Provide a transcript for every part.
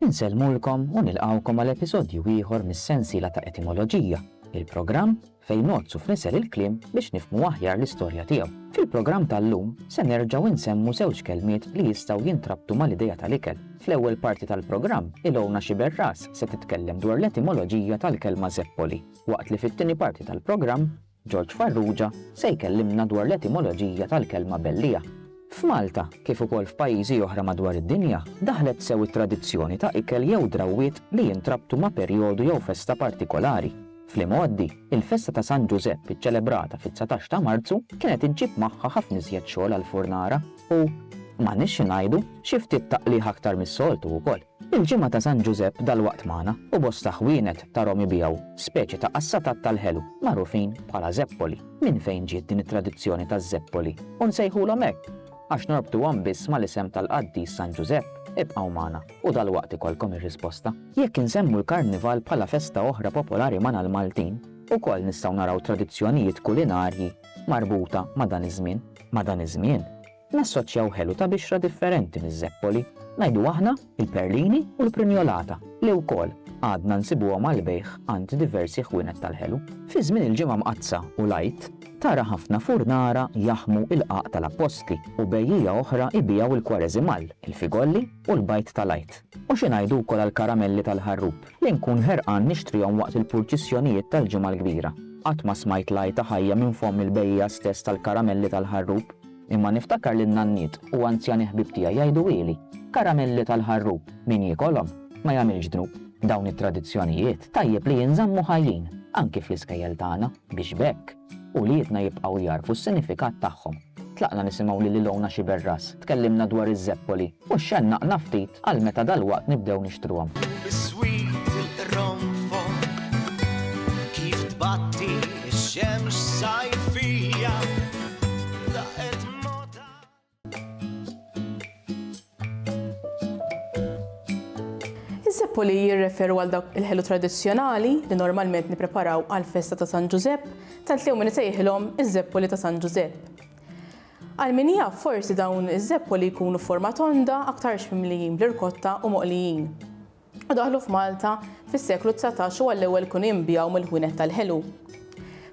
Insellmulkom u nilqgħukom għal episodju ieħor mis-sensiela ta' Etimoloġija, il-programm fejn ngħoddsu f'nisel il-kliem biex nifhmu aħjar l-istorja tiegħu. Fil-programm tal-lum se nerġgħu insemmu żewġ kelmiet li jistgħu jintrabtu mal-idea tal-ikel. Fl-ewwel parti tal-programm, Ilona Sciberras se titkellem dwar l-etimoloġija tal-kelma żeppoli, waqt li fit-tieni parti tal-programm, Ġorġ Farrugia se jkellimna dwar l-etimoloġija tal-kelma belliegħa. F'Malta, kif ukoll f'pajjiżi oħra madwar id-dinja, daħlet sew it-tradizzjoni ta' ikel jew drawwiet li jintrabtu ma' perjodu jew festa partikolari. Fl-imgħoddi, il-festa ta' San Ġużepp iċċelebrata fit-dsatax ta' Marzu kienet iġġib magħha ħafna iżjed xogħol għall-furnara u, ma nixxi ngħidu, xi ftit taqligħ aktar mis-soltu wkoll. Il-Ġimgħa ta' San Ġużepp dalwaqt magħna u bosta ħwienet ta' Rom ibigħu speċi ta' qassatat tal-ħelu magħrufin bħala żeppoli. Minn fejn ġiet din it-tradizzjoni taż-żeppoli u nsejħulhom hekk? Għax norbtuhom biss mal-isem tal-qaddis San Ġużepp? Ibqgħu magħna u dalwaqt ikollkom ir-risposta. Jekk insemmu l-Karnival bħala festa oħra popolari magħna l-Maltin, ukoll nistgħu naraw tradizzjonijiet kulinarji marbuta ma' dan iż-żmien. Ma' dan iż-żmien, Nassoċjaw ħelu ta' bixra differenti miż-żeppoli, ngħidu aħna, il-perlini u l-prinjolata, li wkoll għadna nsibuhom għall-bejgħ għand diversi ħwienet tal-ħelu. Fi żmien il-Ġimgħa Mqaddsa u l-Għid, tara ħafna furnara jaħmu il-qagħaq tal-appostli u bejjiegħa oħra jbiegħu l-kwareżimal, il-figolli u l-bajd tal-Għid. U xi ngħidu wkoll għall-karamelli tal-ħarrub, li nkun ħerqan nixtrihom waqt il-purċissjonijiet tal-Ġimgħa l-Kbira. Qatt ma smajt l-għajta ħajja minn fomm il-bejjiegħa stess tal-karamelli tal-ħarrub. Imma niftakar lin-nanniet u anzjani ħbieb tiegħi jgħiduhieli, Karamelli tal-ħarrub, min jiekolhom, ma jagħmilx dnub. Dawn it-tradizzjonijiet tajjeb li jinżammu ħajjin, anki fl-iskejjel tagħna, biex b'hekk, uliedna jibqgħu jagħrfu s-sinifikat tagħhom. Tlaqna nisimgħu lil Ilona Sciberras tkellimna dwar iż-żeppoli. U xxennaqna ftit għal meta dalwaqt nibdew nixtruhom. U biswit il-qronfol kif tbatti x-xemx sajfija laqgħet mota. Iz-zeppoli jirreferu għal dawk il-ħelu tradizzjonali li normalment nippreparaw għall-festa ta' San Ġużepp, tant li hawn min isejħilhom iz-zeppoli ta' San Ġużepp. Għal min jaf, forsi dawn iż-żeppoli jkunu f'forma tonda, aktarx mimlijin bl-irkotta u moqlijin. U daħlu f'Malta fis-seklu dsatax u għall-ewwel kienu jinbiegħu mill-ħwienet tal-ħelu.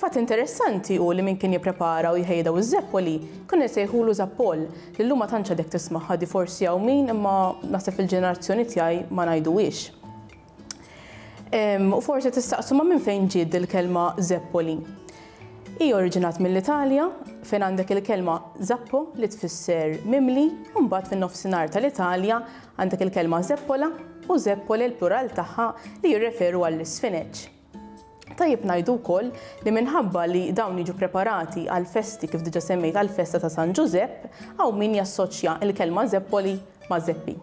Fatt interessanti hu li min kien jipprepara u jħejji daw iż-żeppoli kienu jsejħulu zappol, li llum ma tantx għadek tismagħha di forsi hawn min imma naħseb fil-ġenerazzjoni tiegħi ma ngħiduhiex. U forsi tistaqsu ma' minn fejn ġiet il-kelma Zeppoli. Hi oriġinat mill-Italja fejn għandek il-kelma zappo li tfisser mimli u mbagħad fin-nofsinhar tal-Italja għandek il-kelma zeppola u zeppole l-plural tagħha li jirreferu għall-isfineġġ. Tajjeb ngħidu wkoll li minħabba li dawn jiġu preparati għal festi kif diġa semmejt għal festa ta' San Ġużepp, hawn min jassoċja l-kelma zeppoli ma' zeppi.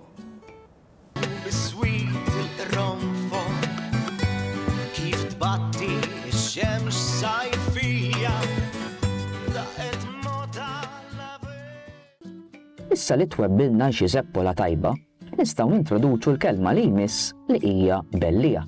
Issa li twebbilna xi zeppola tajba, nistgħu nintroduċu l-kelma li jmiss li hija bellija.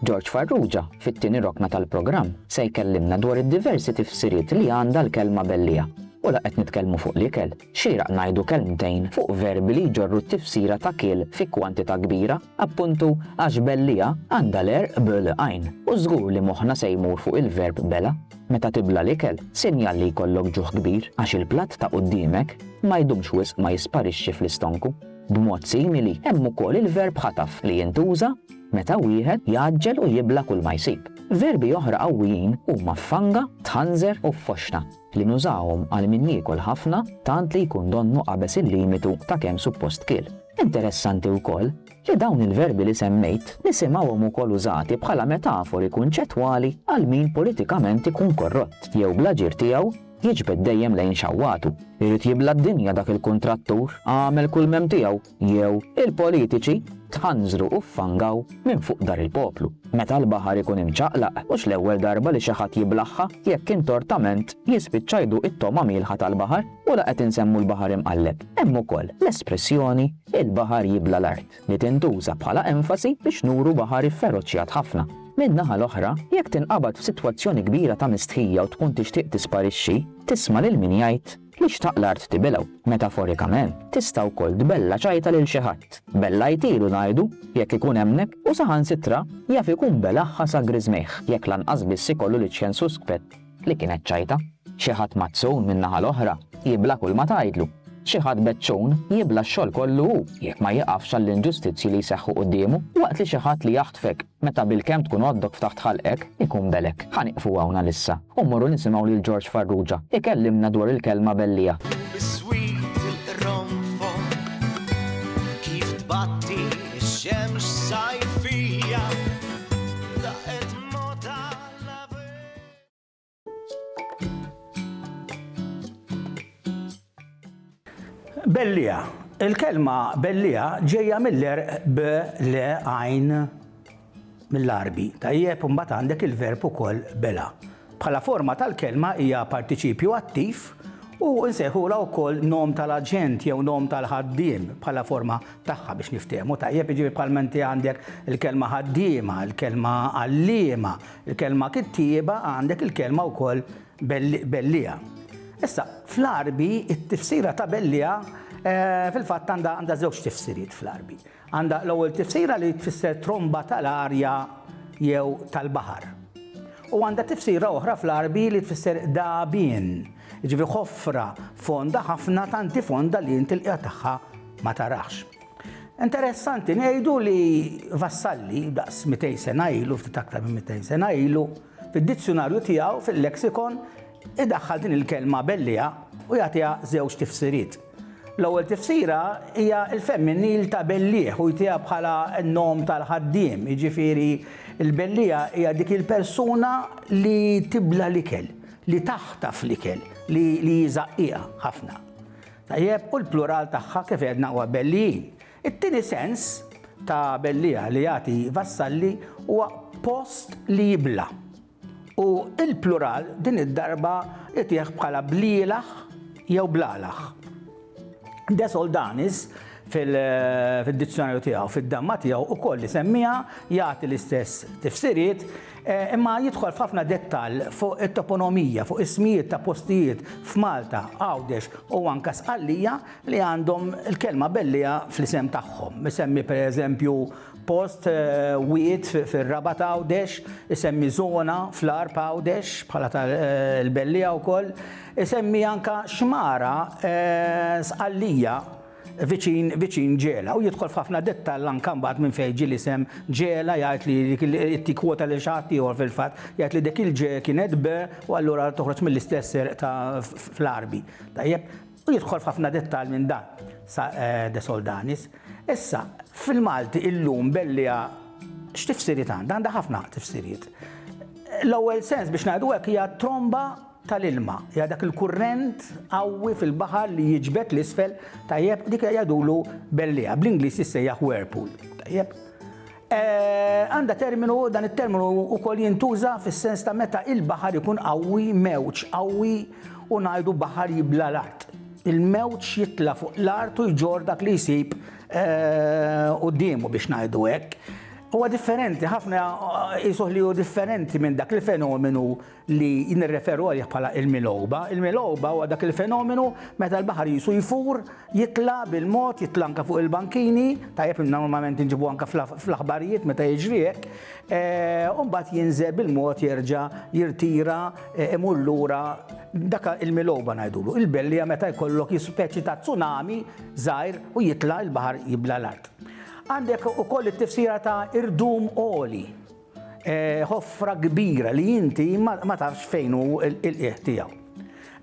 George Farrugia, fit-tieni rokna tal-programm, se jkellimna dwar id-diversi tifsiriet li għandha l-kelma bellija. U la qed nitkellmu fuq l-ikel, xieraq ngħidu kelmtejn fuq verbi li jġorru t-tifsira ta' kiel fi kwantità kbira, appuntu għax bellija għandha l-għerq bl għajn, u żgur li moħħna se jmur fuq il-verb bela'. Meta tibla' l-ikel, sinjal li jkollok ġuħ kbir, għax il-platt ta' quddiemek ma jdumx wisq ma jisparixxi fl-istonku. B'mod simili, hemm ukoll il-verb ħataf li jintuża, meta wieħed jgħaġġel u jibla' kulma jsib. Verbi oħra qawwijin huma ffanga, tħanżer u ffoxxna, li nużahom għal min jiekol ħafna tant li jkun donnu qabeż il-limitu ta' kemm suppost kiel. Interessanti wkoll li dawn il-verbi li semmejt nisimgħuhom ukoll użati bħala metafori kunċettwali għal min politikament ikun korrott jew bl-aġir tiegħu jiġbed dejjem lejn xawwatu. Irid jibla' d-dinja dak il-kuntrattur, għamel kull m'hemm tiegħu, jew il-politiċi tħanżru u ffangaw minn fuq dar il-poplu. Meta l-baħar ikun imċaqlaq, mhux l-ewwel darba li xi ħadd jiblaħħa jekk int ortament jispiċċa jduq it-togħma mielħa tal-baħar u la qed insemmu l-baħar imqalleb. Hemm ukoll l-espressjoni il-baħar jibla l-art li tintuża bħala enfasi biex nuru baħar ifferoċjat ħafna. Min-naħa l-oħra, jekk tinqabad f'sitwazzjoni kbira ta' mistħija u tkun tixtieq tisparixxi, tisma' lil min jgħid Li xtaq l-art tibilgħu, metaforikament, tista' wkoll tbella' ċajta lil xi ħadd. Bellajtilu ngħidu, jekk ikun hemmnek, u saħansitra jaf ikun belagħha sa griżmejh jekk lanqas biss ikollu l-iċċen suspett li kienet ċajta. Xi ħadd mazzun min-naħa l-oħra jibla' kull ma tgħidlu. Xi ħadd beċċun jibla' x-xogħol kollu hu jekk ma jieqafx għall-inġustizzji li jseħħu quddiemu waqt li xi ħadd li jaħtfek Meta bilkemm tkun għoddok f'taħt ħalqek, ikun belek. Ħa nieqfu hawn għalissa u mmorru nisimgħu lil Ġorġ Farrugia ikellimna dwar il-kelma belliegħa. Biswit il-qronfol kif tbatti x-xemx sajfija. Bellija. Il-kelma bellija ġejja mill-erq b le għajn mill-arbi. Tajjeb, mbagħad għandek il-verb ukoll bela. Bħala forma tal-kelma hija partiċipju attiv u nsejħula wkoll nom tal-aġent jew nom tal-ħaddiem bħala forma tagħha biex niftehmu. Tajjeb iġibi bħal menti għandek il-kelma ħaddiema, il-kelma għalliema, Il-kelma kittieba għandek il-kelma wkoll belliegħa. Issa, fl-Għarbi, it-tifsira ta' belliegħa eh, fil-fatt għandha żewġ tifsiriet fl-Għarbi. Għandha l-ewwel tifsira li tfisser tromba tal-arja jew tal-baħar. U għandha tifsira oħra fl-Għarbi li tfisser dabien, ġifi ħofra fonda ħafna tanti fonda li inti l tagħha ma tarax. Interessanti ngħidu li Vassalli, daqs 200 sena ilu, ftit aktar minn 200 sena ilu, fid-dizzjunarju tiegħu fil-lexikon idaħħal din il-kelma belliha u jagħtiha żewġ tifsiriet. L-ewwel tifsira hija l-femminil ta' bellieħ u jtiha bħala n-nom tal-ħaddiem, jiġifieri l-belliegħa hija dik il-persuna li tibla l-ikel, li taħtaf l-ikel, li li hi żaqqiqa ħafna. Tajjeb, u l-plural tagħha kif għedna huwa bellijin. It-tieni sens ta' bellija li jagħti Vassalli huwa post li jibla'. U l-plural din id-darba itih bħala blielah jew blalah. De Soldanis fid-dizzjonarju tiegħu, fid-damma tiegħu, ukoll isemmiha, jagħti l-istess tifsiriet, Imma jidħol f'ħafna dettall fuq it-toponomija, fuq ismijiet ta' postijiet f'Malta, Għawdex u anke Sqallija li għandhom il-kelma Bellieha fl-isem tagħhom. Isemmi pereżempju post, wied, fir-Rabat Għawdex, isemmi żona fl-Għarb Għawdex bħala ta' l-Bellieha wkoll, isemmi anke xmara Sqallija. viċin viċin Ġela u jidħol f'ħafna dettall anke mbagħad minn fejn ġie l-isem Ġela jgħid li dik il- qed jikkwota lil xi ħadd ieħor fil-fatt jgħid li dik il-ġe kienet be u allura toħroġ mill-istess erq ta' fl-Għarbi. Tajjeb? U jidħol f'ħafna dettall minn dan sa eh, De Soldanis. Issa, fil-Malti illum Bellija x'tifsiriet għandha? Għandha ħafna tifsiriet. L-ewwel sens biex ngħidu hekk hija tromba tal-ilma, hija dak il-kurrent qawwi fil-baħar li jiġbed 'l isfel, tajjeb, dik jgħidulu bellieqa, bl-Ingliż jissejjaħ whirlpool, tajjeb. Għandha terminu, dan it-terminu wkoll jintuża fis-sens ta' meta il-baħar ikun qawwi, mewġ qawwi u ngħidu baħar jibla l-art. Il-mewġ jitla' fuq l-art u jġorr dak li jsib quddiemu biex ngħidu hekk. Huwa differenti, ħafna qisuh li hu differenti minn dak il-fenomenu li nirreferu għalih bħala il-milgħuba. Il-milgħuba huwa dak il-fenomenu meta l-baħar jisu jfur, jitla' bil-mod, jitla' anke fuq il-bankini, tajjeb normalment inġibu anke fl-aħbarijiet meta jiġri hekk, eh, u mbagħad jinżel bil-mod jerġa' jirtira eh, imur lura dak il-milgħuba ngħidulu. Il-bellija meta jkollok speċi ta' tsunami żgħir u jitla' il-baħar jibla l-art. Għandek ukoll it-tifsira ta' irdum oli Ħofra kbira li inti ma tafx fejn hu l-qiegħ tiegħu.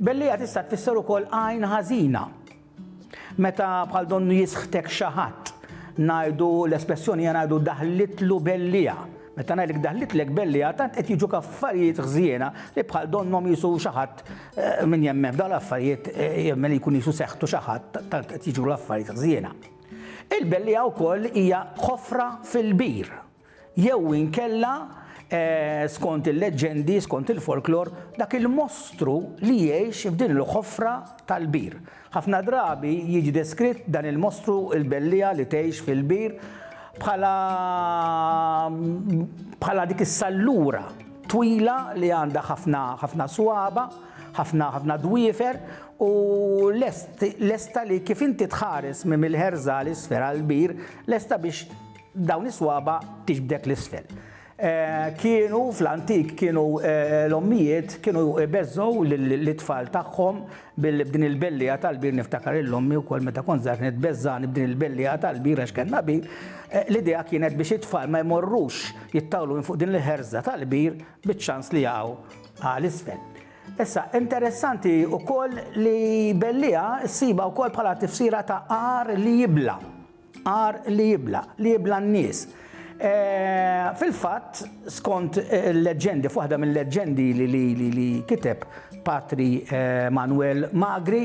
Belliegħa tista' tfisser ukoll għajn ħażina. Meta bħal donnu jisħtek xi ħadd, ngħidu l-espressjoni hija ngħidu daħlitlu belliegħa. Meta ngħidlek daħlitlek belliegħa tant qed jiġuk affarijiet ħżiena li bħal donnhom jisu xi ħadd min jemmen f'dawn l-affarijiet jemmen li jkun jisu seħħtu xi ħadd tant qed jiġru l-affarijiet ħżiena. Il-belliegħa wkoll hija ħofra fil-bir. Jew inkella, skont il-leġġendi, skont il-folklor, dak il-mostru li jgħix f'din il-ħofra tal-bir. Ħafna drabi jiġi deskritt dan il-mostru, il-belliegħa li tgħix fil-bir, bħala bħala dik is-sallura twila li għandha ħafna ħafna swaba, ħafna ħafna dwiefer u lest lesta li kif inti tħares minn mill-ħerża 'l isfel għall-bir, lesta biex Dawn is-swaba' tixbdek 'l isfel. Kienu fl-antik kienu l-ommijiet kienu jbeżżgħu lit-tfal tagħhom b'din il-belliegħa tal-bir niftakar lil ommi wkoll meta kont żgħir kienet tbeżżagħni b'din il-belliegħa tal-bir għax kellna bir. L-idea kienet biex it-tfal ma jmorrux jittawlu minn fuq din il-ħerża tal-bir biċ-ċans li jaqgħu għal isfel. Issa interessanti wkoll li belliegħa ssibha wkoll bħala tifsira ta' għar li jibla'. Għar li jibla, li jibla n-nies. Fil-fatt, skont il-leġġendi, f'waħda mill-leġġendi li kiteb Patri Manuel Magri,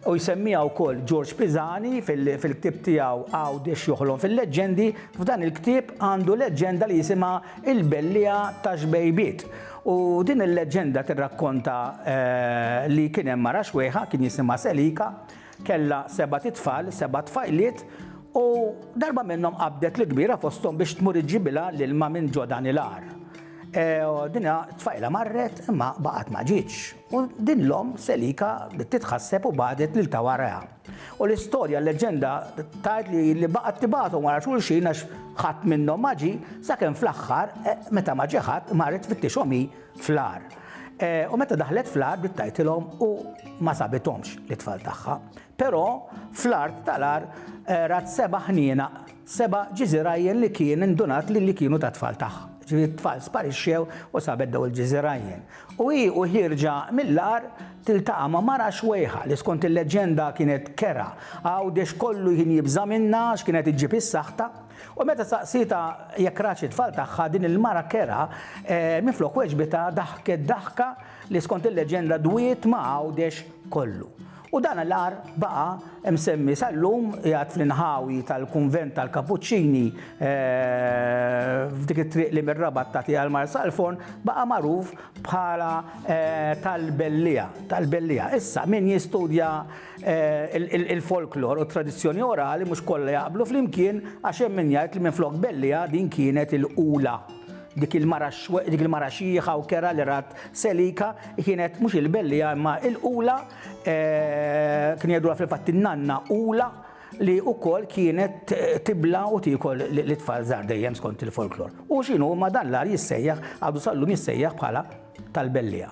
u jsemmiha wkoll George Pisani fil-ktieb tiegħu Għawdex joħlom fil-leġġendi, f'dan il-ktieb għandu leġġenda li jisimha Il-Belliegħa ta' Xbejbiet. U din il-leġġenda tirrakkonta li kien hemm mara xwejħa, kien jisimha Selika, Kellha sebat itfal, seba' tfajliet, u darba minnhom qabdet l-kbira fosthom biex tmur iġġibilha l-ilma minn ġo dan il-għar. Din tfajla marret imma baqgħet ma ġietx, u din l-omm selika bdiet titħasseb u bagħtet lil ta' warajha. U l-istorja, l-leġġenda, tgħid li li baqgħet tibagħthom wara xulxin għax ħadd minnhom ma ġie, sakemm fl-aħħar, meta ma ġie ħadd, marret tfittixhom hi, fl-għar. U meta daħlet fl-għar bdiet tgħajtilhom u ma sabithomx lit-tfal tagħha. Però fl-art tal-għar rat seba' ħnienaq, seba' ġiżirajjen li kien indunat li li kienu tat-tfal tagħha. Ġifieri t-tfal sparixxew u sabet dawn il-ġiżirajjen. U hi u ħierġa mill-għar tiltaqa' ma' mara xwejħa li skont il-leġġenda kienet kerha Għawdex kollu kien jibża' minnha għax kienet iġġib is-saħta. U meta saqsietha jekk ratx it-tfal tagħha, din il-mara kerha, minflok weġbitha, daħket daħka li skont il-leġenda dwiet ma' Għawdex kollu. U dan l-agħar baqa' msemmi sal-lum, qiegħed fl-inħawi tal-kunvent tal-Kapuċċini f'dik it-triq li mir-Rabat tagħti għal Marsalforn, baqa' magħruf bħala tal-Belliegħa, tal-Belliegħa. Issa, min jistudja Il-folklor u t-tradizzjoni orali mhux kollha jaqblu flimkien għax hemm min jgħid li minflok Belliha din kienet il-Qula. Dik il-mara xieħa u kerha li rat Selika kienet mhux il-Belliha imma il-Qula kien jgħidulha fil-fatt in-nanna Qula li wkoll kienet tibla u tiekol l-itfal żgħar dejjem skont il-folklor. U x'inhu ma dan l-ar jissejjaħ għadu sallum jissejjaħ bħala tal-Belliha.